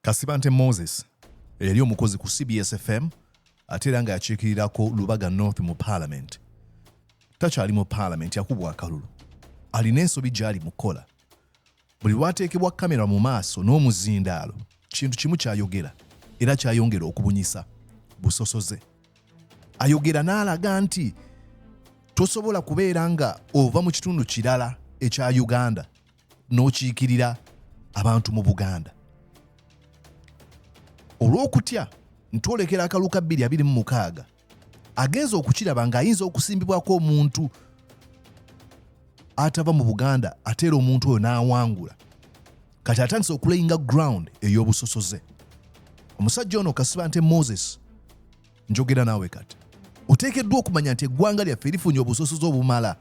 Kasibante Moses eyali omukozi ku CBS FM ate era nga yakiikirirako Lubaga North mu Parliament takyali mu Parliament yakubwa akalulu alina ensobi gy'ali mu kukola buli lwateekebwa kamera mu maaso n'omuzindaalo kintu kimu kyayogera era kyayongera okubunyisa busosoze ayogera n'alaga nti tosobola kubeera nga ova mu kitundu kirala ekya Uganda n'okiikirira abantu mu buganda olw'okutya ntwolekera akalulu ka 226 agenza okukiraba ng'ayinza okusimbibwako omuntu atava mu buganda ateera omuntu oyo n'awangula kati atandise okulayinga ground ey'obusosoze omusajja ono kasibante moses njogera naawe kati oteekeddwa okumanya nti eggwanga lyaffe lifunye obusosoze obumala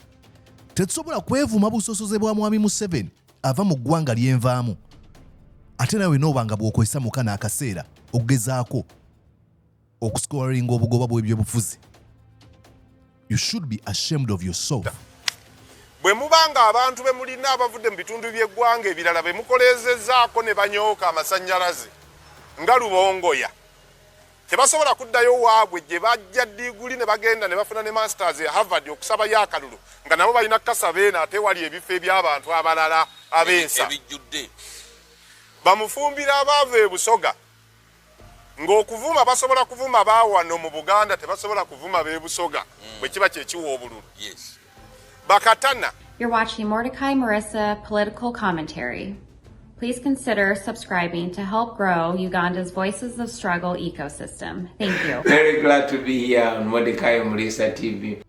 tetusobola kwevuma busosoze bwa mwami museveni ava mu ggwanga lyenvaamu ate nawe nooba nga bw'okozesa muka n'akaseera okugezaako okusikowalinga obugoba bw'ebyobufuzi you should be ashamed of yourself bwe muba nga abantu be mulina abavudde mu bitundu by'eggwanga ebirala be mukoleezezaako ne banyooka amasannyalaze nga lubongoya Tebasobola kuddayo waabwe gye bajja ddiguli ne bagenda ne bafuna ne masters e Harvard okusabayo akalulu nga nabo balina kukasa beena ate wali ebifo eby'abantu abalala ab'ensa ebijjudde bamufumbira abaava e Busoga ng'okuvuma basobola kuvuma baawano mu Buganda tebasobola kuvuma b'e Busoga mm. bwe kiba kye kiwa obululu yes. bakatana You're watching Mordecai Marissa Political Commentary. Please consider subscribing to help grow Uganda's Voices of Struggle ecosystem. Thank you. Very glad to be here on Mordecai Marissa TV.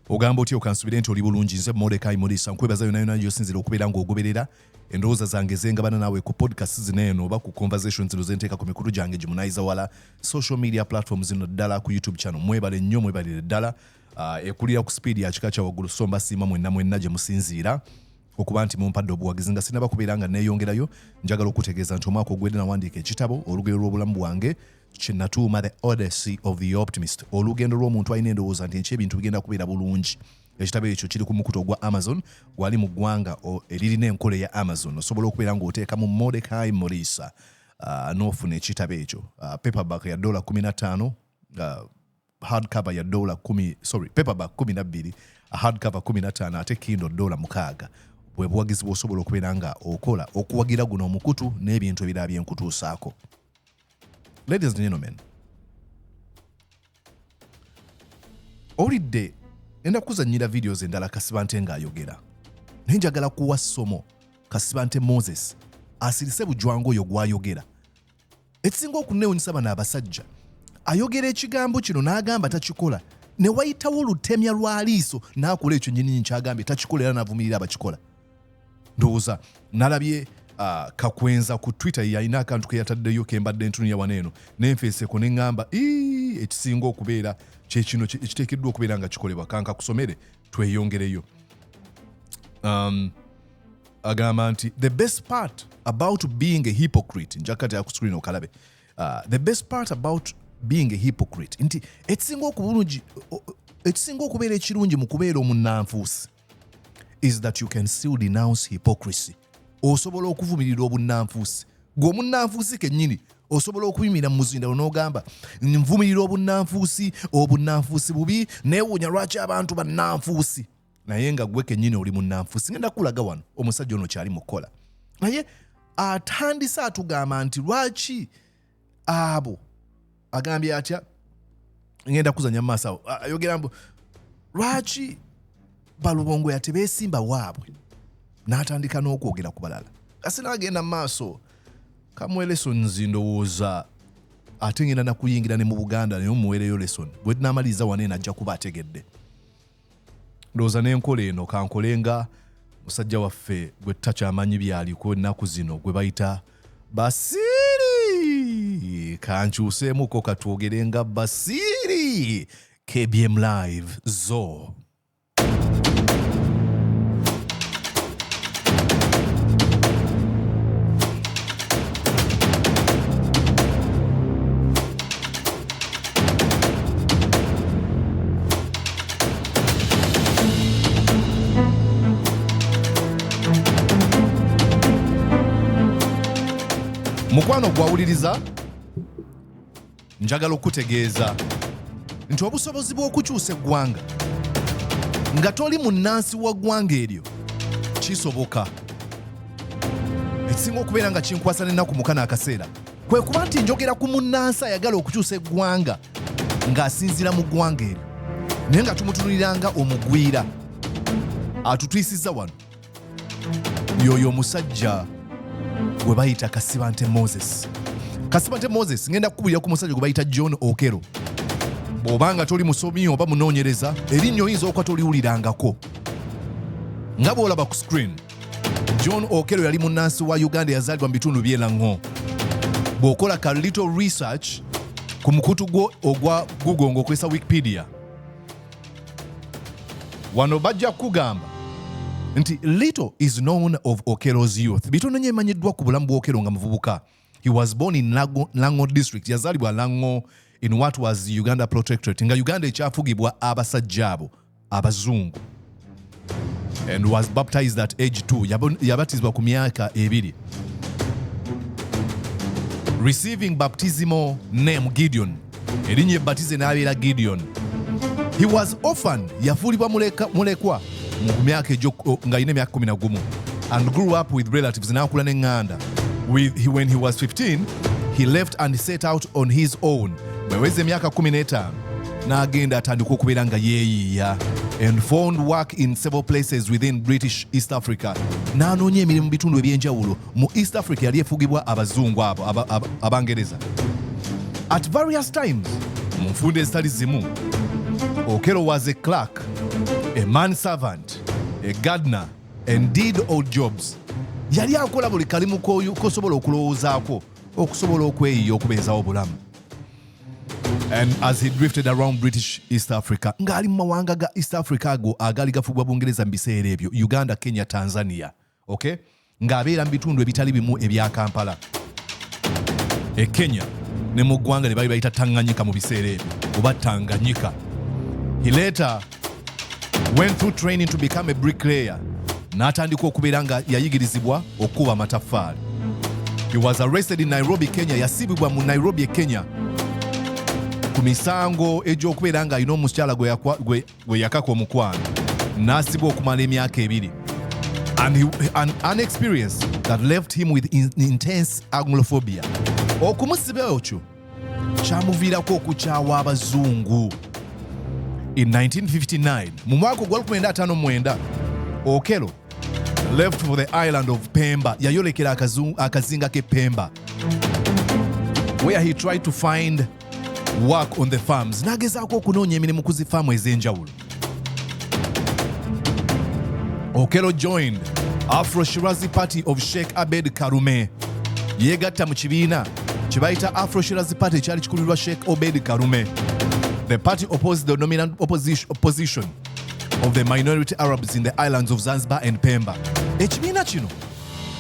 ogamba otya okansubire nti oli bulungi nze modekai murisa nkwebaza yona yona gyosinzira okubeera ng'ogoberera endowooza zange zengabana naawe ku podcast zino eno oba ku conversation zino zenteeka ku mikulu gyange gimunayiza wala social media platform zino ddala ku youtube channel mwebale nnyo mwebalire ddala uh, ekulira ku sipiidi ya kika kya waggulu so mbasiima mwenna mwenna gye musinziira okuba nti mumpadde obuwagizi nga sinaba kubeera nga neeyongerayo njagala okutegeeza nti omwaka ogwedde nawandiika ekitabo olugero lw'obulamu bwange kinatuuma the odyssey of the optimist olugendo lw'omuntu alina endowooza nti enki ebintu bigenda kubeera bulungi ekitabo ekyo kiri ku mukutu ogwa amazon gwali mu ggwanga eririna enkola eya amazon osobola okubeera ng'oteeka mu modekai moriisa uh, n'ofuna ekitabo ekyo uh, paperback ya dola 15 uh, hard cover ya dola kumi sorry paperback kumi nabbiri hard cover kumi nataano ate kindo dola mukaaga bwe buwagizi bwosobola okubeera nga okola okuwagira guno omukutu n'ebintu ebirala byenkutuusaako ladies and gentlemen owulidde enda kuzanyira videos endala kasibante ng'ayogera naye njagala kuwa ssomo kasibante moses asirise bujwangu oyo gwayogera ekisinga okunneewunyisa bano abasajja ayogera ekigambo kino n'agamba takikola ne wayitawo olutemya lwa liiso n'akola ekyo nyininyi kyagambye takikola era n'avumirira abakikola ndowooza nalabye uh, kakwenza ku twitter yalina akantu ke yataddeyo ke mbadde ntunuya wano eno nenfeeseko ne ŋŋamba ekisinga okubeera kyekino ekiteekeddwa okubeera nga kikolebwa kanka kusomere tweyongereyo um, agamba nti the best part about being a hypocrite njakati akuscreen okalabe uh, the best part about being a hypocrite nti ekisinga okubulungi ekisinga okubeera ekirungi mu kubeera omunnanfuusi is that you can still denounce hypocrisy osobola okuvumirira obunnanfuusi gwe omunnanfuusi kennyini osobola okuyimira mu muzindalo n'ogamba nvumirira obunnanfuusi obunnanfuusi bubi neewuunya lwaki abantu bannanfuusi naye nga gwe kenyini oli munanfusi ngenda kulaga wano omusajja ono kyali mukukola naye atandise atugamba nti lwaki abo agambye atya ngenda kuzanya mumaaso awo ayogera mbu lwaki balubongo yatebesimba waabwe n'atandika n'okwogera ku balala kasi n'agenda mu maaso kamuwe lesonzi ndowooza ate ngenda nakuyingira ne mu buganda naye omuweereyo lesoni bwe namaliriza wana enajja kuba ategedde Ndowooza n'enkola eno kankole nga musajja waffe gwe tutakyamanyi byaliko ennaku zino gwe bayita Basiiri. Kankyuseemuko katwogere nga Basiiri. KBM Live zo. mukwano gwawuliriza njagala okukutegeeza nti obusobozi bw'okukyusa eggwanga nga toli munnansi wa ggwanga eryo kisoboka ekisinga okubeera nga kinkwasa n'ennaku mukana akaseera kwe kuba nti njogera ku munnansi ayagala okukyusa eggwanga ng'asinziira mu ggwanga eryo naye nga tumutunuliranga omugwira atutwisiza wano yoyo omusajja gwe bayita kasibante moses kasibante moses ngenda kukubulira ku musajja gwe bayita john okero bw'oba nga toli musomi oba munoonyereza erinnya oyinza okuba toliwulirangako nga bw'olaba ku screen John Okello yali munnansi wa Uganda eyazaalibwa mu bitundu by'e Lang'o. Bw'okola ka little research ku mukutu gwo ogwa Google ng'okozesa Wikipedia, wano bajja kukugamba nti little is known of Okello's youth. Bitono nnyo emanyiddwa ku bulamu bwa Okello nga muvubuka. He was born in Lango, Lango district. Yazalibwa Lango in what was Uganda protectorate. Nga Uganda ekyafugibwa abasajja abo abazungu. And was baptized at age 2. Yabatizibwa ku myaka ebiri. Receiving baptismal name Gideon erinnya ebbatize n'abeera gideon he was orphan yafuulibwa mulekwa mu myaka egyo ng'alina emyaka 11 and grew up with relatives n'akula n'eŋŋanda when he was 15 he left and set out on his own bweweza emyaka 15 n'agenda atandika okubeera nga yeeyiiya and found work in several places within british east africa n'anoonya emirimu bitundu eby'enjawulo mu east africa yali efugibwa abazungu abo abangereza at various times mu nfunda ezitali zimu okelo was a clark a man servant a gardner and did all jobs yali akola buli kalimu kosobola okulowoozaako okusobola okweyiya okubeezawo obulamu and as he drifted around british east africa ng'ali mu mawanga ga east africa ago agaali gafugwa bungereza mu biseera ebyo uganda kenya tanzania okay? ng'abeera mu bitundu ebitali bimu ebya kampala e kenya ne mu ggwanga lye bali bayita tanganyika mu biseera ebyo oba tanganyika he later went through training to become a bricklayer n'atandika okubeera nga yayigirizibwa okukuba amataffaali he was arrested in nairobi kenya yasibibwa mu nairobi e kenya ku misango egy'okubeera ng'alina omukyala gwe gwe yakaka omukwano n'asibwa okumala emyaka ebiri and, he, and an experience that left him with in, intense anglophobia okumusiba okyo kyamuviirako okukyawa abazungu in 1959 mu mwaka ogwa 1959 okelo left for the island of pemba yayolekera akazinga ke pemba where he tried to find work on the farms n'agezaako okunoonya emirimu ku zifaamu ez'enjawulo okelo joined afro shirazi party of sheikh abed karume yeegatta mu kibiina kye bayita afro shirazi party ekyali kikulirwa sheikh obed karume the party opposed the dominant opposition of the minority arabs in the islands of zanzibar and pemba ekibiina kino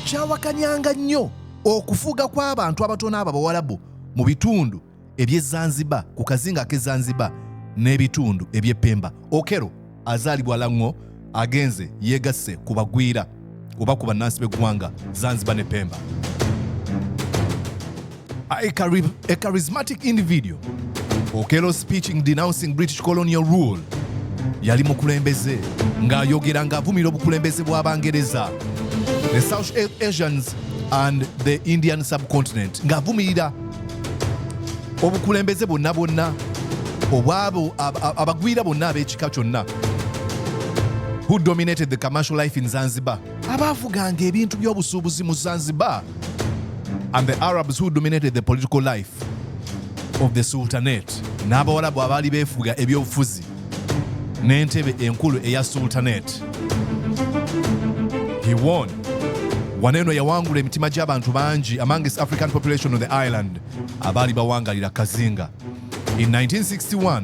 kyawakanyanga nnyo okufuga kw'abantu abatono abo abawalabu mu bitundu eby'e Zanzibar ku kazinga ak'e Zanzibar n'ebitundu eby'e Pemba. Okero azaalibwa Lang'o agenze yeegasse ku bagwira oba ku bannansi b'eggwanga Zanzibar ne Pemba. A, a charismatic individual Okello speaking denouncing British colonial rule yali mukulembeze ng'ayogera ng'avumira obukulembeze bw'Abangereza. The South Asians and the Indian subcontinent ng'avumirira obukulembeze bwonna bwonna obwabo abagwira bonna ab'ekika kyonna who dominated the commercial life in Zanzibar abaavuganga ebintu by'obusuubuzi mu Zanzibar and the Arabs who dominated the political life of the Sultanate n'abawalabu abaali beefuga ebyobufuzi n'entebe enkulu eya sultanate he won wano eno yawangula emitima gy'abantu bangi amongst african population on the island abaali bawangalira kazinga in 1961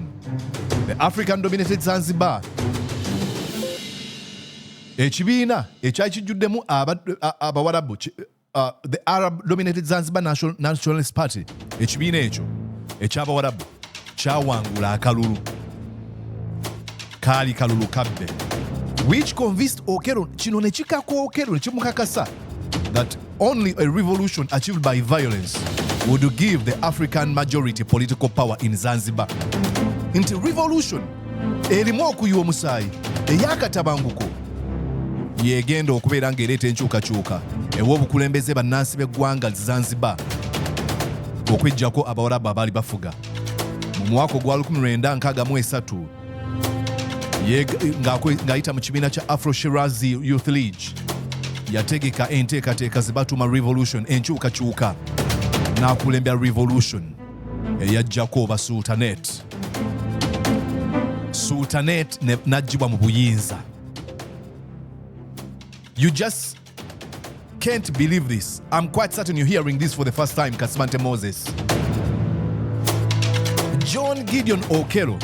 the african dominated zanzibar ekibiina ekyali kijjuddemu abawarabu uh, the Arab dominated Zanzibar National, Nationalist Party ekibiina ekyo eky'abawarabu kyawangula akalulu kaali kalulu kabbe which convinced Okero kino ne kikaka Okero ne kimukakasa that only a revolution achieved by violence would give the African majority political power in Zanzibar nti revolution erimu okuyiwa omusaayi ey'akatabanguko yegenda okubeera ng'ereeta enkyukakyuka ew'obukulembeze bannansi b'eggwanga Zanzibar okujjako abawarabu abaali bafuga mu mwaka ogwa 1963 ng'ayita mu kibiina kya afro shirazi youth league yategeka enteekateeka ze batuuma revolution enkyukakyuka n'akulembera revolution eyajjako oba sultanet sultanet najjibwa mu buyinza you just can't believe this i'm quite certain you're hearing this for the first time kasibante moses john gideon okelo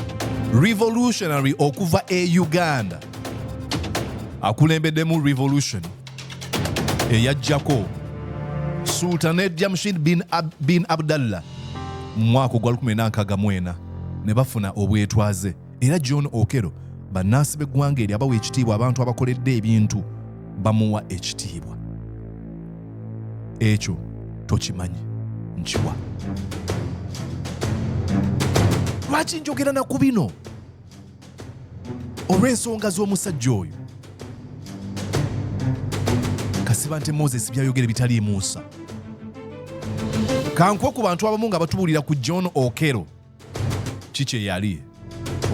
revolutionary okuva e uganda akulembeddemu revolution eyajjako sultane jamshid bin, Ab bin abdallah mu mwaka ogwa 1964 ne bafuna obwetwaze era john okero bannansi b'eggwanga eri abawa ekitiibwa abantu abakoledde ebintu bamuwa ekitiibwa ekyo tokimanyi nkiwa lwaki njogera na ku bino olw'ensonga z'omusajja oyo kasiba nti moses byayogera ebitaliimu nsa kankwe ku bantu abamu nga batubuulira ku john okero ki kye yali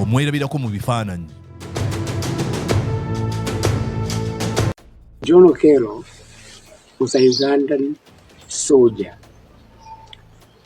omwerabirako mu bifaananyi john okero was a ugandan soldier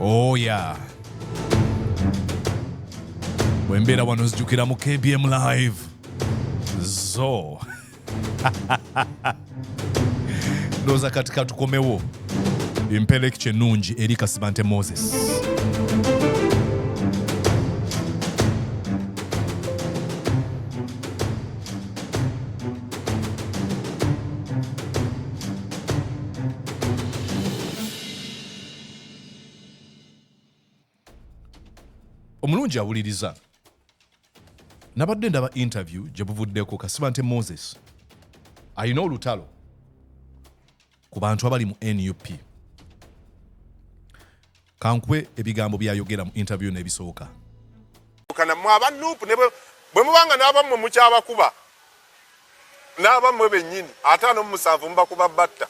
Oh yeah. Bwembeera wano nzijukira mu KBM live. Zo. Ndoza kati katukomewo. Impeleki kyenungi eri Kasibante Moses. omulungi awuliriza nabadde ndaba interview gye buvuddeko kasiba nte moses alina olutalo ku bantu abali mu nup Kankuwe ebigambo byayogera mu interview eno ebisooka. Kana mwa ba nup ne bwe mubanga n'aba mwe mukyabakuba n'aba mwe bennyini ataano mu musanvu mubakuba batta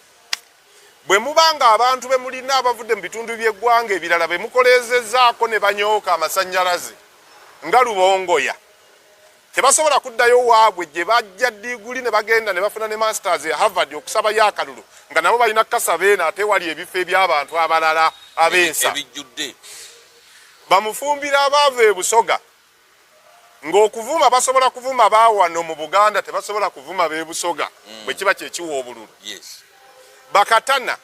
bwe mubanga abantu be mulina abavudde mu bitundu by'eggwanga ebirala be mukoleezezaako ne banyooka amasannyalaze nga lubongoya tebasobola kuddayo waabwe gye bajja diguli ne bagenda ne bafuna ne masters ya Harvard okusabayo akalulu nga nabo balina kukasa beena ate wali ebifo eby'abantu abalala ab'ensa ebijjudde bamufumbira abaava e Busoga ng'okuvuma basobola kuvuma baawano mu Buganda tebasobola kuvuma b'e Busoga mm. bwe kiba kye kiwa obululu bakatana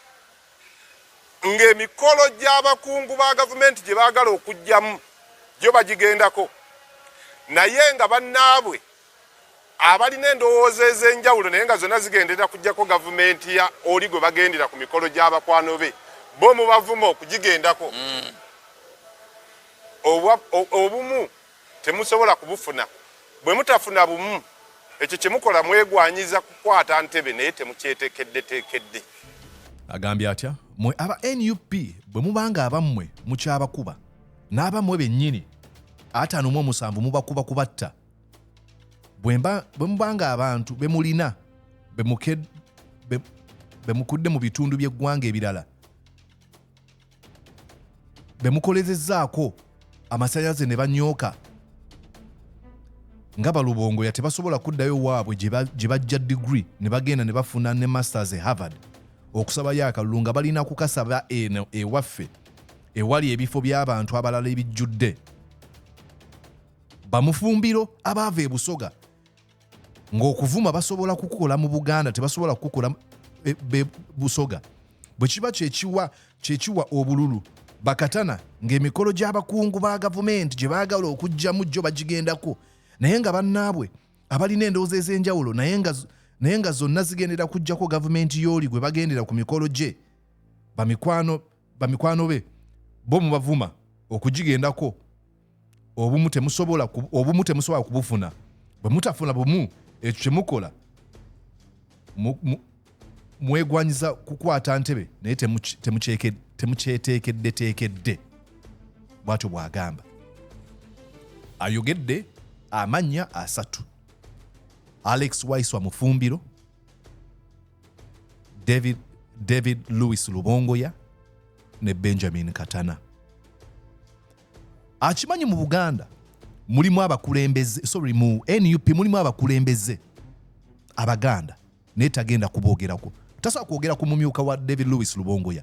ng'emikolo gy'abakungu ba gavumenti gye baagala okujjamu gyo bagigendako naye nga bannaabwe abalina endowooza ez'enjawulo naye nga zonna zigendera kujjako gavumenti ya oli gwe bagendera ku mikolo gy'abakwano be bo mubavuma okugigendako mm. obumu temusobola kubufuna bwe mutafuna bumu ekyo kye mukola mwegwanyiza kukwata ntebe naye temukyetekeddetekedde agambye atya mwe aba nup bwe mubanga abammwe mukyabakuba n'abammwe bennyini ataano mu omusanvu mubakuba kubatta bwe mubanga abantu be mulina be mukudde mu bitundu by'eggwanga ebirala bemukolezezaako amasanyalaze ne banyooka nga balubongoya tebasobola kuddayo waabwe gye bajja digiri ne bagenda ne bafuna ne masters e harvard okusabayo akalulu nga balina kukasaba eno ewaffe ewali ebifo by'abantu abalala ebijjudde bamufumbiro abaava ebusoga ng'okuvuma basobola kukukola mu buganda tebasobola kukukola e, busoga bwe kiba kyekiwa kyekiwa obululu bakatana ng'emikolo gy'abakungu ba gavumenti gye baagala okugyamu jjo bagigendako naye nga bannaabwe abalina endowooza ez'enjawulo naye nga naye nga zonna zigendera kujjako gavumenti yooli gwe bagendera ku mikolo gye bamikwano be bo mubavuma okugigendako obumu temusobola obumu temusobola kubufuna bwe mutafuna bumu ekyo kye mukola mwegwanyiza kukwata ntebe naye temukyeteekeddeteekedde bwatyo bwagamba ayogedde amannya asatu alex waiswa mufumbiro david, david louis lubongoya ne benjamin katana akimanyi mu buganda mulimu abakulembeze sorry mu nup mulimu abakulembeze abaganda naye tagenda kuboogerako tasobola kwogera ku mumyuka wa david lewis lubongoya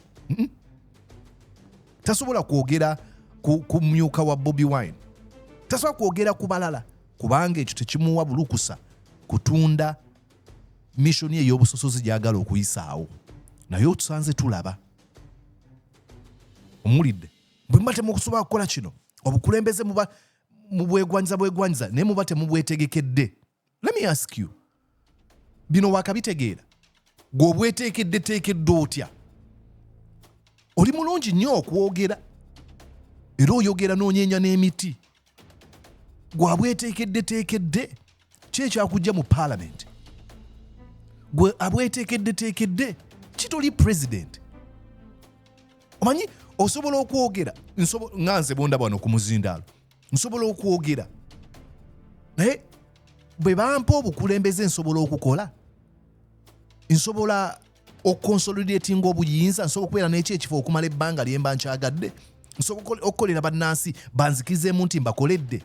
tasobola kwogera ku myuka wa bobi wine tasobola kwogera ku balala kubanga ekyo tekimuwa bulukusa kutunda mishoni ey'obusosozi gyagala okuyisaawo naye otusanze tulaba omulidde bwe muba temukusobola kukola kino obukulembeze muba mubwegwanyiza bwegwanyiza naye muba temubwetegekedde let me ask you bino wakabitegeera gwe obweteekedde teekedde otya oli mulungi nnyo okwogera era oyogera n'onyenya n'emiti gwe abweteekeddeteekedde ki ekyakujja mu paalamenti gwe abweteekeddeteekedde kitoli president omanyi osobola okwogera nga nze bondaba wano ku muzindaalo nsobola okwogera naye bwe bampa obukulembeze nsobola okukola nsobola okukonsolidatinga obuyinza nsobola okubeera n'ekyo ekifo okumala ebbanga lye mba nkyagadde nsobola okukolera bannansi banzikizeemu nti mbakoledde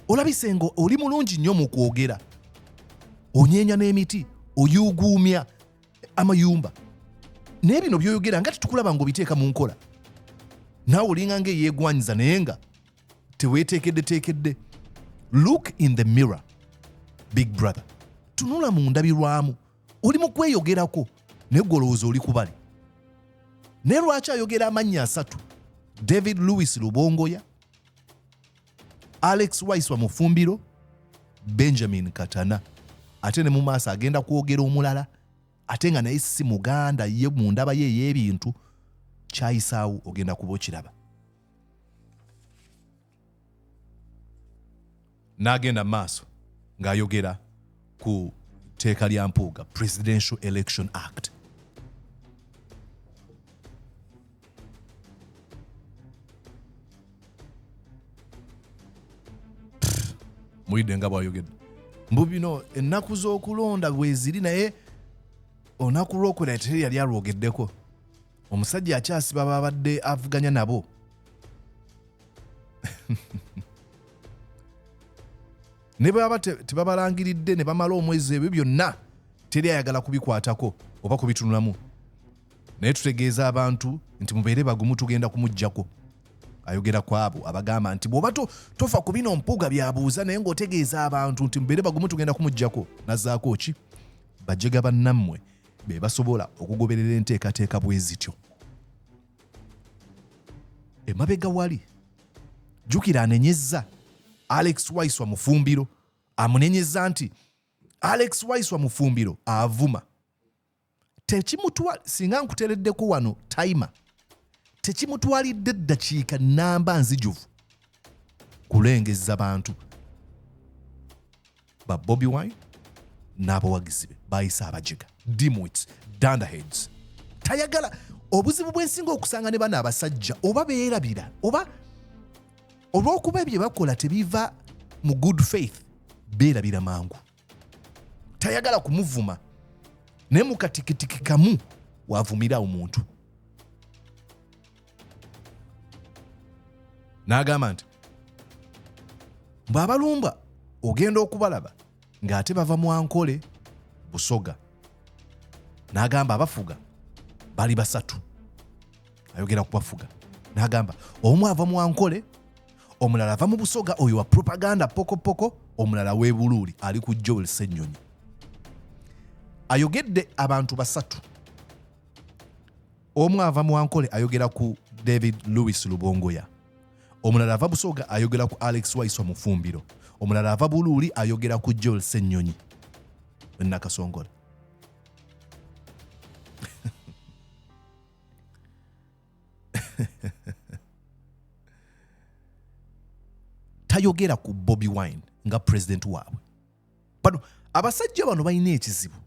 olabise nga oli mulungi nnyo mu kwogera onyeenya n'emiti oyuuguumya amayumba naye bino byoyogera nga tetukulaba nga obiteeka mu nkola naawe olinga nga eyeegwanyiza naye nga teweeteekeddeteekedde look in the mirror big brother tunula mu ndabirwamu oli mu kweyogerako naye gwe olowooza oli kubale naye lwaki ayogera amannya asatu david louis lubongoya alex waiswa mufumbiro benjamin katana ate ne mu maaso agenda kwogera omulala ate nga naye si muganda ye mu ndaba ye ey'ebintu kyayisaawo ogenda kuba okiraba n'agenda mu maaso ng'ayogera ku tteeka lya mpuuga presidential election act mulidde nga bwayogedde mbu bino ennaku z'okulonda bweziri naye olunaku lwokuna teri yali alwogeddeko omusajja akyasiba babadde avuganya nabo ne bwaba tebabalangiridde ne bamala omwezi ebyo byonna teri ayagala kubikwatako oba kubitunulamu naye tutegeeza abantu nti mubeere bagumu tugenda kumuggyako ayogera ku abo abagamba nti bw'oba tofa ku bino mpuuga byabuuza naye ng'otegeeza abantu nti mubeere bagumu tugenda kumuggyako nazaako ki bajega bannammwe be basobola okugoberera enteekateeka bwe zityo emabega wali jjukira anenyezza alex waiswa mufumbiro amunenyezza nti alex waiswa mufumbiro avuma tekimutwa singa nkutereddeko wano taima tekimutwalidde eddakiika namba nzijuvu kulengezza bantu ba bobi wine n'abawagizi be bayise abajega dimwits dandaheads tayagala obuzibu bwensinga okusanga ne bano abasajja oba beerabira oba olw'okuba ebyo bakola tebiva mu good faith beerabira mangu tayagala kumuvuma naye mu katikitiki kamu waavumira omuntu n'agamba nti bw'abalumba ogenda okubalaba ng'ate bava mu ankole busoga n'agamba abafuga bali basatu ayogera kubafuga n'agamba omu ava mu ankole omulala ava mu busoga oyo wa propaganda pokopoko omulala w'ebuluuli ali ku joel senyonyi ayogedde abantu basatu Omu ava mu Ankole ayogera ku David Louis Lubongoya, omulala ava Busoga ayogera ku Alex Waiswa Mufumbiro, omulala ava Buluuli ayogera ku Joel Ssenyonyi Nakasongola. tayogera ku Bobi Wine nga president waabwe. bano abasajja bano balina ekizibu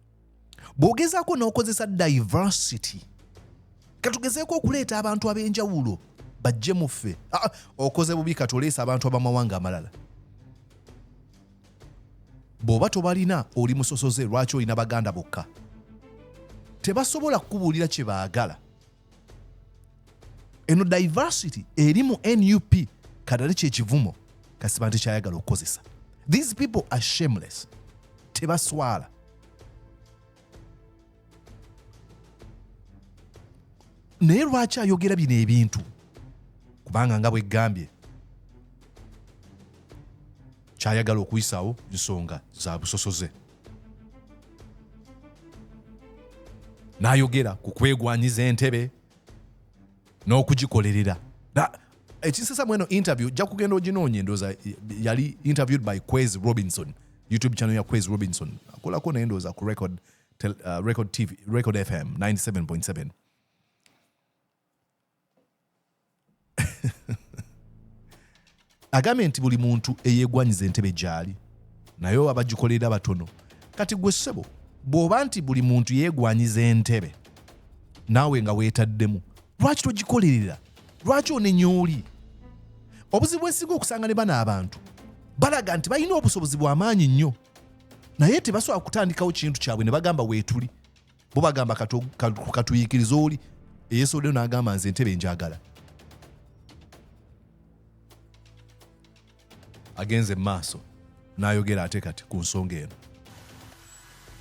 bw'ogezaako n'okozesa diversity katugezeeko okuleeta abantu ab'enjawulo bajje mu ffe ah, ah, okoze bubi kati oleesa abantu ab'amawanga amalala bw'oba tobalina oli musosoze lwaki olina baganda bokka tebasobola kukubuulira kye baagala eno diversity eri mu nup kadale kyekivumo kasiba nti kyayagala okukozesa these people are shameless tebaswala naye lwaki ayogera bino ebintu kubanga nga bwegambye kyayagala okuyisawo nsonga za busosoze n'ayogera ku kwegwanyiza entebe n'okugikolerera ekisesa mweno interview ojja kugenda oginoonye ndooza yali interviewed by quez robinson youtube channel ya quez robinson akolako naye ndooza ku record, tel, uh, record, TV, record fm 97.7 agambye nti buli muntu eyegwanyiza entebe gyali naye abagikolera batono kati gwe ssebo bw'oba nti buli muntu yeegwanyiza entebe naawe nga weetaddemu lwaki togikolerera lwaki onenya oli obuzibu bwesinga okusanga ne bano abantu balaga nti balina obusobozi bw'amaanyi nnyo naye tebasobola kutandikawo kintu kyabwe ne bagamba weetuli bo bagamba katuyikiriza oli eyesodeyo nagamba nze entebe njagala agenze mumaaso nayogera ate kati ku nsonga eno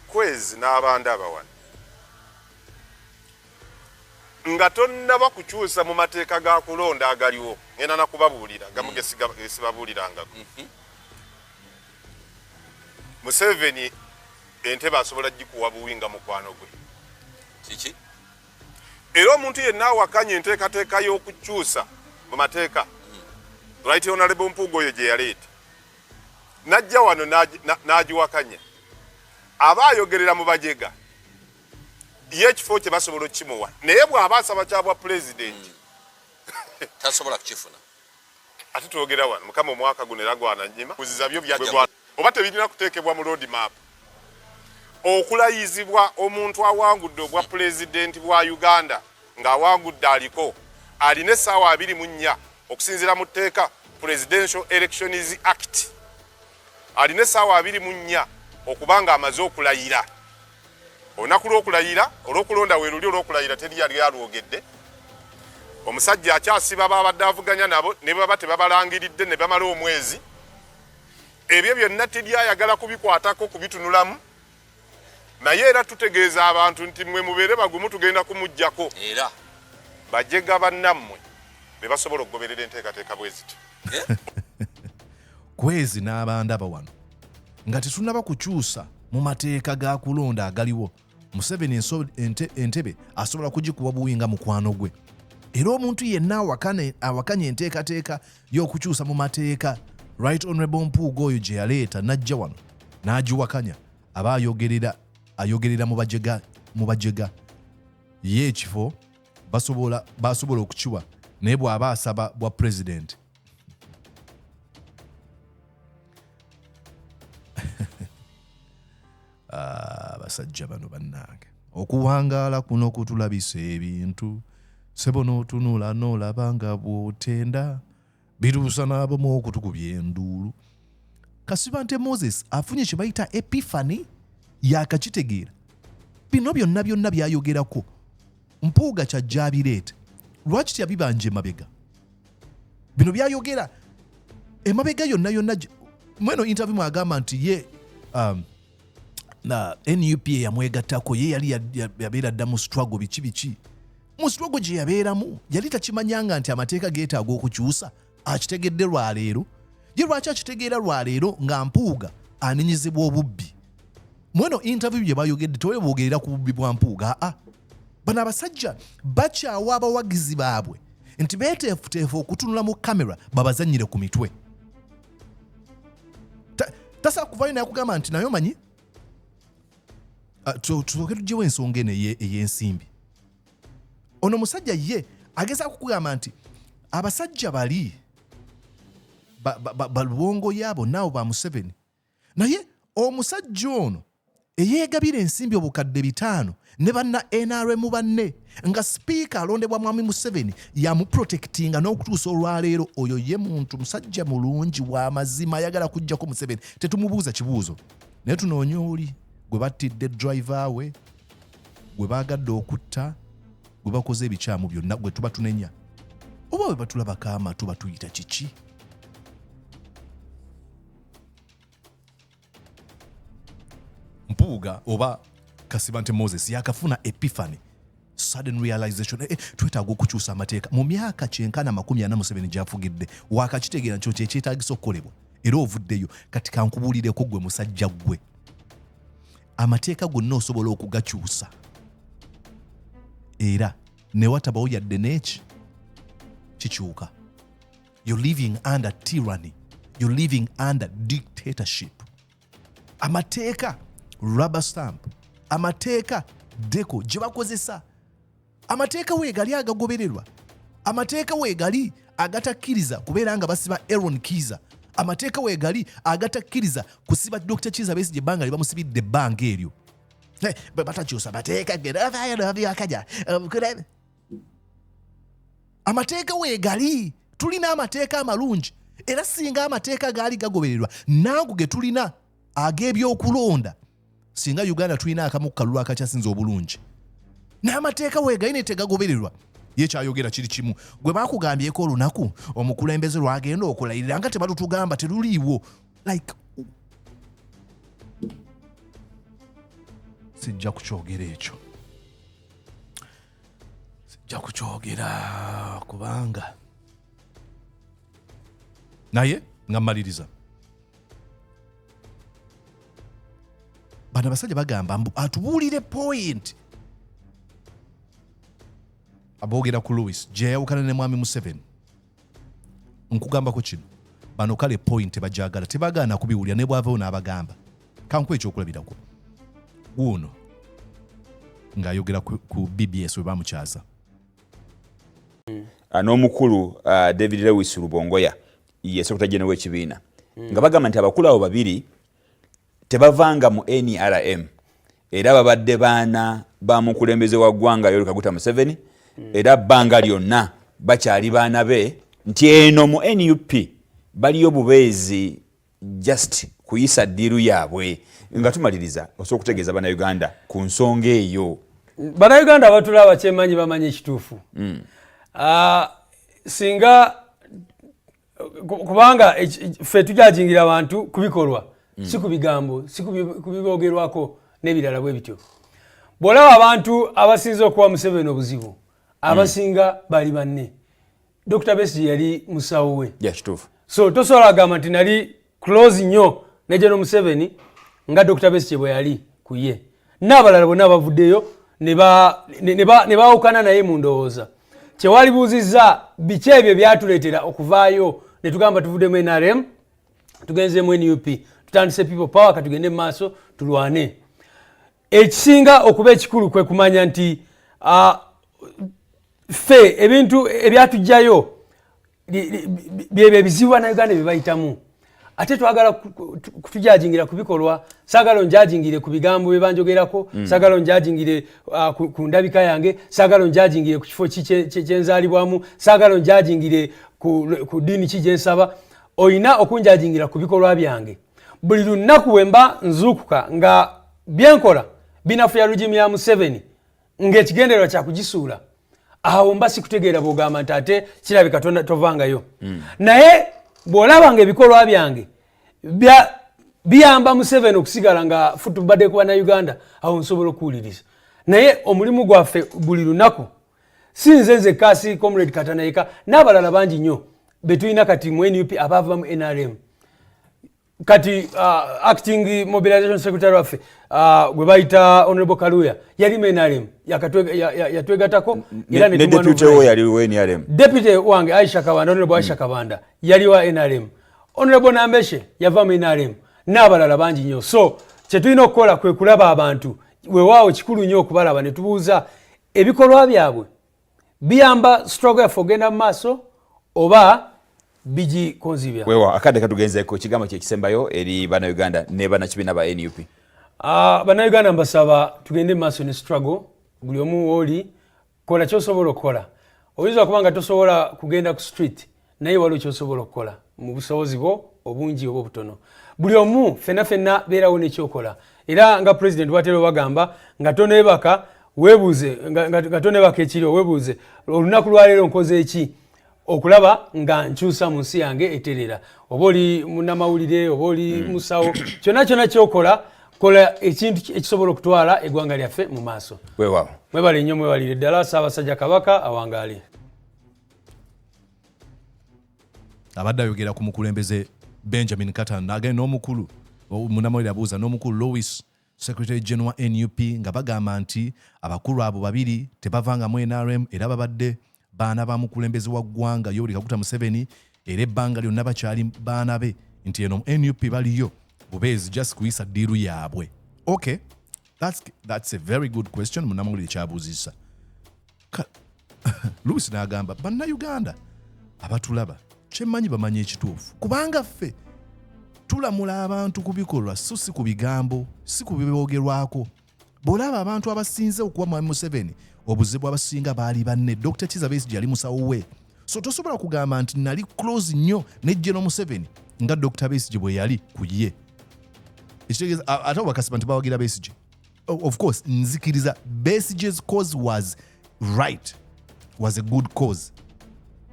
kwezi n'abanda abawani nga tonnaba kukyusa mu mateeka ga kulonda agaliwo ngenda nakubabuulira gamu mm. gesibabuulirangako mm-hmm. museveni Entebe asobola gikuwa buwi nga mukwano gwe. Kiki? Era omuntu yenna awakanya enteekateeka y'okukyusa mu mateeka hmm. right honorable Mpuuga oyo gye yaleeta n'ajja wano n'agiwakanya aba ayogerera mu bajega ye ekifo kye basobola okukimuwa naye bw'aba asaba kya bwa pulezidenti hmm. tasobola kukifuna ate twogera wano mukama omwaka guno era gwananyima kuziza byo byagwa oba tebirina kuteekebwa mu road map okulayizibwa omuntu awangudde obwa pulezidenti bwa uganda ng'awangudde aliko alina essaawa abiri mu nnya okusinziira mu tteeka presidential elections act alina essaawa abiri mu nnya okuba ng'amaze okulayira olunaku lw'okulayira olw'okulonda we luli olw'okulayira teri yali alwogedde omusajja akyasiba babadde avuganya nabo ne baba tebabalangiridde ne bamala omwezi ebyo byonna teri ayagala kubikwatako kubitunulamu naye era tutegeeza abantu nti mwe mubeere bagumu tugenda kumuggyako era bajega bannammwe be basobola okugoberera enteekateeka bwe ziti eh? Kwezi n'abandaba wano nga tetunaba kukyusa mu mateeka ga kulonda agaliwo Museveni entebe asobola kugikuwa buwi nga mukwano gwe era omuntu yenna awakanya enteekateeka y'okukyusa mu mateeka right honorable mpuuga oyo gye yaleeta n'ajja wano n'agiwakanya aba ayogerera ayogerera mu bajega mu bajega ye ekifo basobola okukiwa naye bw'aba asaba bwa pulezidenti Ah, abasajja bano bannange okuwangaala kuno kutulabisa ebintu sebo n'otunula n'olaba nga bw'otenda bituusa n'abamu okutukubya enduulu kasiba nte moses afunye kye bayita epifani yakakitegeera bino byonna byonna byayogerako mpuuga kyajja abireete lwaki teyabibanja emabega bino byayogera emabega yonna yonna mweno interview mwagamba nti ye um, na nup eyamwegattako ye yali yabeera dda mu struggle biki biki mu struggle gye yabeeramu yali takimanyanga nti amateeka geetaaga okukyusa akitegedde lwaleero ye lwaki akitegeera lwaleero nga mpuuga anenyezebwa obubbi mweno interview gye bayogedde tewebwogerera ku bubbi bwa mpuuga aa ah, ah. bano abasajja bakyawa abawagizi baabwe nti beeteefuteefu okutunula mu kamera babazanyire ku mitwe tasaa kuvayo naye kugamba nti naye omanyi ah, tusooke tugyewo ensonga eno ey'ensimbi ono musajja ye ageza kukugamba nti abasajja bali balwongo yaabo naawo ba museveni naye omusajja ono eyeegabira ensimbi obukadde bitaano ne banna nrm banne nga sipiika alondebwa mwami museveni yamuprotekitinga n'okutuusa olwaleero oyo ye muntu musajja mulungi wa mazima ayagala kujjako museveni tetumubuuza kibuuzo naye tunoonya oli gwe battidde driva we gwe baagadde okutta gwe bakoze ebikyamu byonna gwe tuba tunenya oba bwe batulabako amatu batuyita kiki mpuuga oba kasibante moses yakafuna epiphany sudden realization eh, eh twetaaga okukyusa amateeka mu myaka kyenkana makumi ana museveni gyafugidde wakakitegeera nkyo kyekyetagisa okukolebwa era ovuddeyo kati kankubuulireko gwe musajja ggwe amateeka gonna osobola okugakyusa era newatabawo yadde neeki kikyuka you're living under tyranny you're living under dictatorship amateeka rubber stamp amateeka deko gye bakozesa amateeka weegali agagobererwa amateeka weegali agatakkiriza kubeera nga basiba aron kiiza amateeka weegali agatakkiriza kusiba dr kiiza besigye ebbanga lye bamusibidde ebbanga eryo bwe batakyusa mateeka geravayonobyokaja amateeka weegali tulina amateeka amalungi era singa amateeka gaali gagobererwa nanku ge tulina ag'ebyokulonda singa uganda tulina akamu ku kalulu akakyasinza obulungi n'amateeka weegali naye tegagobererwa ye kyayogera kiri kimu gwe bakugambyeko olunaku omukulembeze lwagenda okulayirira nga tebalutugamba teruliiwo like sijja kukyogera ekyo sijja kukyogera kubanga naye nga mmaliriza bano abasajja bagamba mbu atubuulire point aboogera ku louis gyeyawukana ne mwami museveni nkugambako kino bano kale point bajagala tebagaana kubiwulira ne bwavawo n'abagamba kankuwa ekyokulabirako guuno ng'ayogera ku bbs we bamukyaza hmm. ah, n'omukulu ah, david lewis lubongoya yesekutajenowa ekibiina hmm. nga bagamba nti abakulu abo babiri tebavanga mu nrm era babadde baana ba mukulembeze wa ggwanga yoweri kaguta museveni era bbanga lyonna bakyali baana be nti eno mu nup baliyo bubeezi just kuyisa ddiiru yaabwe nga tumaliriza osobola okutegeeza bannayuganda ku nsonga eyo bannayuganda abatula abakyemanyi bamanyi ekituufu mm. ah, singa kubanga ffe tujajingira abantu kubikolwa mm. si ku bigambo si ku bibogerwako n'ebirala bwe bityo bw'olaba abantu abasinza okuwa museveni obuzibu abasinga mm. bali banne dr besigi yali musawo we so tosobola agamba nti nali close nyo ne General Museveni nga Dr. Besigye bwe yali ku ye n'abalala bonna abavuddeyo ne baawukana naye mu ndowooza kyewalibuuzizza biki ebyo byatuleetera okuvaayo ne tugamba tuvuddemu nrm tugenzemu nup tutandise people power katugende mu maaso tulwane ekisinga okuba ekikulu kwe kumanya nti ffe ebintu ebyatugjayo byebyo ebizibu banauganda byebayitamu ate twagala kutujajingira kubikolwa sagala onjajingire ku bigambo byebanjogerako mm. sagala onjajingire uh, ku, ku ndabika yange sagala onjajingire ku kifo kyenzalibwamu sagala onjajingire ku, ku dini ki gyensaba olina okunjajingira ku bikolwa byange buli lunaku wemba nzuukuka nga byenkola binafuya lugimu ya museveni ngaekigendererwa kyakugisuula awo mba sikutegeera bwogamba nti ate kirabika tovangayo mm. naye bwolaba nga ebikolwa byange biyamba museveni okusigala nga futubadde kuba na uganda awo nsobola okuwuliriza naye omulimu gwaffe buli lunaku si nze nzekka si comrade katana yeka n'abalala bangi nnyo betulina kati mu nup abaava mu nrm kati uh, acting mobilization secretary waffe uh, gwe bayita honorable kaluya yali mu nrm yatwegatako depute wange aisha kabanda honorable aisha kabanda yali wa nrm honorable nambeshe yava mu nrm n'abalala bangi nnyo so kyetulina okukola kwe kulaba abantu wewaawo kikulu nnyo okubalaba ne tubuuza ebikolwa byabwe biyamba struggle yaffe ogenda mu maaso oba bigikonzibya wewa akadde katugenzeko ekigambo kyekisembayo eri banauganda ne banakibiina ba nup ah, banauganda mbasaba tugende mu maaso ne struggle buli omu wooli kola kyosobola okukola oyinza okuba nga tosobola kugenda ku street naye waliwo kyosobola okukola mu busobozi bwo obungi oba obutono buli omu fenna fenna beerawo nekyokola era nga pulezidenti watera obagamba nga tonebaka webuuze nga tonebaka ekiriwo webuuze olunaku lwaleero nkoze eki okulaba nga nkyusa mu nsi yange eterera oba oli munamawulire oba oli mm. musawo kyonna kyonna kyokola kola ekintu ekisobola okutwala eggwanga lyaffe mu maaso mwebale nnyo mwebalire ddala saabasajja kabaka awangaale abadde ayogera ku mukulembeze benjamin katan agenda n'omukulu munamawere abuuza n'omukulu louis secretary general wa nup nga bagamba nti abakulu abo babiri tebavangamu nrm era babadde baana ba mukulembeze wa ggwanga yoweri kaguta museveni era ebbanga lyonna bakyali baana be nti eno nup baliyo bubeezi just kuyisa ddiiru yaabwe okay that's, that's a very good question munamawulire kyabuuzisa luusi n'agamba bannayuganda abatulaba kyemmanyi bamanya ekituufu kubanga ffe tulamula abantu ku bikolwa so si ku bigambo si ku biboogerwako bw'olaba abantu abasinze okuwa mwami museveni obuzibu abasinga baali banne dr kiza besigye yali musawo we so tosobola kugamba nti nali close nnyo ne geno museveni nga dr besigye bwe yali ku ye ekitegeeza ate obakasiba nti bawagira besigye of course nzikiriza besiges cause was right was a good cause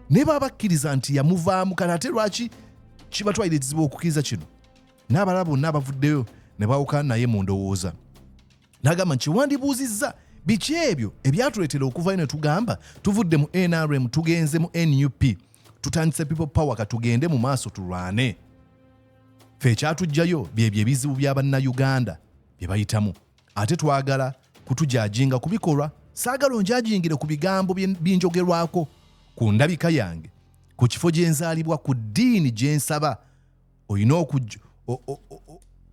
naye baba bakkiriza nti yamuvaamu kale ate lwaki kibatwalira ekizibu okukkiriza kino n'abalala bonna abavuddeyo ne bawukana naye mu ndowooza n'agamba nti wandibuuzizza biki ebyo ebyatuleetera okuvayo ne tugamba tuvudde mu nrm tugenze mu nup tutandise people power katugende mu maaso tulwane fe ekyatujjayo byebyo ebizibu bya bannayuganda bye bayitamu ate twagala kutujajinga ku bikolwa saagala onjajingire ku bigambo binjogerwako ku ndabika yange ku kifo gye nzaalibwa ku ddiini gye nsaba olina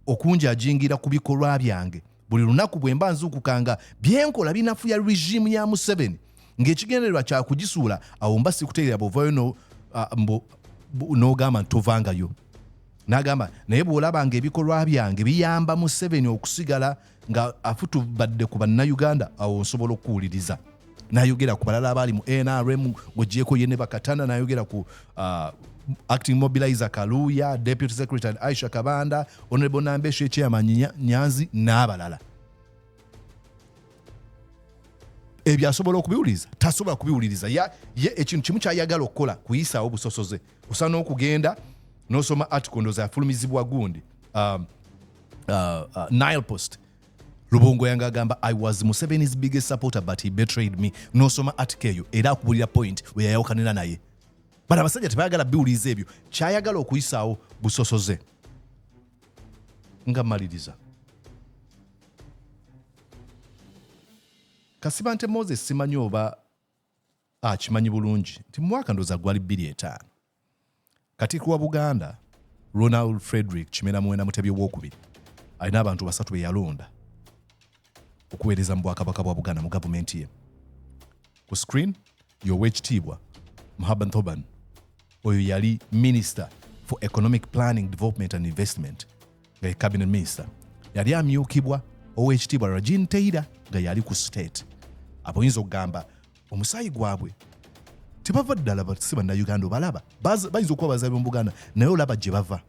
okunjajingira ku bikolwa byange buli lunaku bwe mba nzuukuka nga byenkola binafuya regimu ya museveni ng'ekigendererwa kya kugisuula awo mba sikutegeera bwovayo n'ogamba nti tovangayo N'agamba naye bw'olaba ng'ebikolwa byange biyamba Museveni okusigala nga afutubadde ku bannayuganda awo nsobola okukuwuliriza nayogera ku balala abaali mu nrm ng'ogyeko ye ne bakatana nayogera ku uh, acting mobilizer kaluuya deputy secretary aisha kabanda honorable nambesha ekyeyamanyi nyanzi n'abalala ebyo asobola okubiwuliriza tasobola kubiwuliriza ye ekintu kimu kyayagala okukola kuyisaawo busosoze osana okugenda nosoma article ndoza yafulumizibwa gundi um, uh, uh, nile post lubongo yanga agamba i was museveni's biggest supporter but he betrayed me nosoma article eyo era akubulira point weyayawukanira naye but abasajja tebayagala biwuliza ebyo kyayagala okuyisaawo busosoze nga maliriza kasibante moses simanyi oba akimanyi bulungi nti mumwaka ndoza gwali 25 katikiro wa buganda ronald frederick kimera muwenda mutebi owokubiri alina abantu basatu beyalonda okuweereza mu bwakabaka bwa buganda mu gavumenti ye ku screen yowekitiibwa muhaban thoban oyo yali minister for economic planning development and investment nga ye cabinet minister yali amyukibwa ow'ekitiibwa rajin teira nga yali ku state aboyinza okugamba omusaayi gwabwe tebava ddala si bannayuganda obalaba bayinza okuba bazabi mu buganda naye olaba gye bava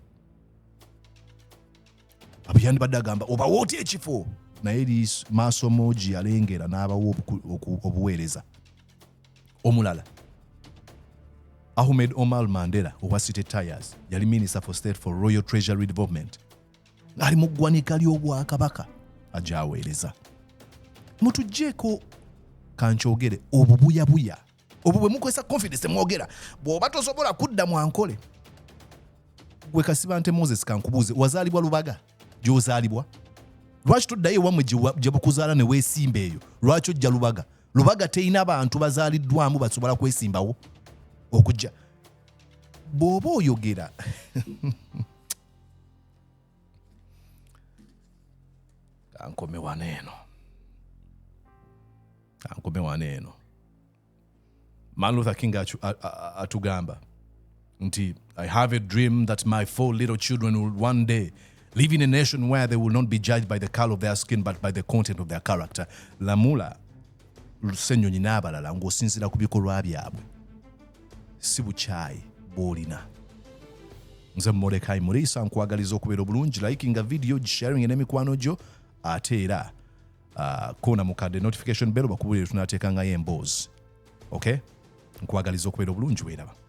abuyandibadde agamba obawa otya ekifo naye maaso mogi yalengera n'abawa obuweereza omulala ahmed omar mandela owa city tires yali minister for state for royal treasury development ng'ali mu ggwanika ly'obwakabaka agyaweereza mutugjeeko kankyogere obubuyabuya obwo bwe mukozesa confidence mwogera bw'oba tosobola kudda mu ankole gwe kasibante moses kankubuuze wazaalibwa lubaga gy'ozaalibwa lwaki toddayo ewammwe gye bukuzaala ne weesimba eyo lwaki ojja lubaga lubaga terina bantu bazaaliddwamu basobola kwesimbawo okujja bw'oba oyogera kankome wano eno kankome wano eno man luther king atugamba nti i have a dream that my four little children will one day live in a nation where they will not be judged by the color of their skin but by the content of their character lamula lusenyonyi n'abalala ng'osinziira ku bikolwa byabwe si bukyayi bw'olina nze mumolekayi muriisa nkwagaliza okubeera obulungi likinga vidiyo gisharing n'emikwano gyo ate era ah, koona mukadde notification bell bakubuulire tunateekangayo emboozi ok nkwagaliza okubeera obulungi weeraba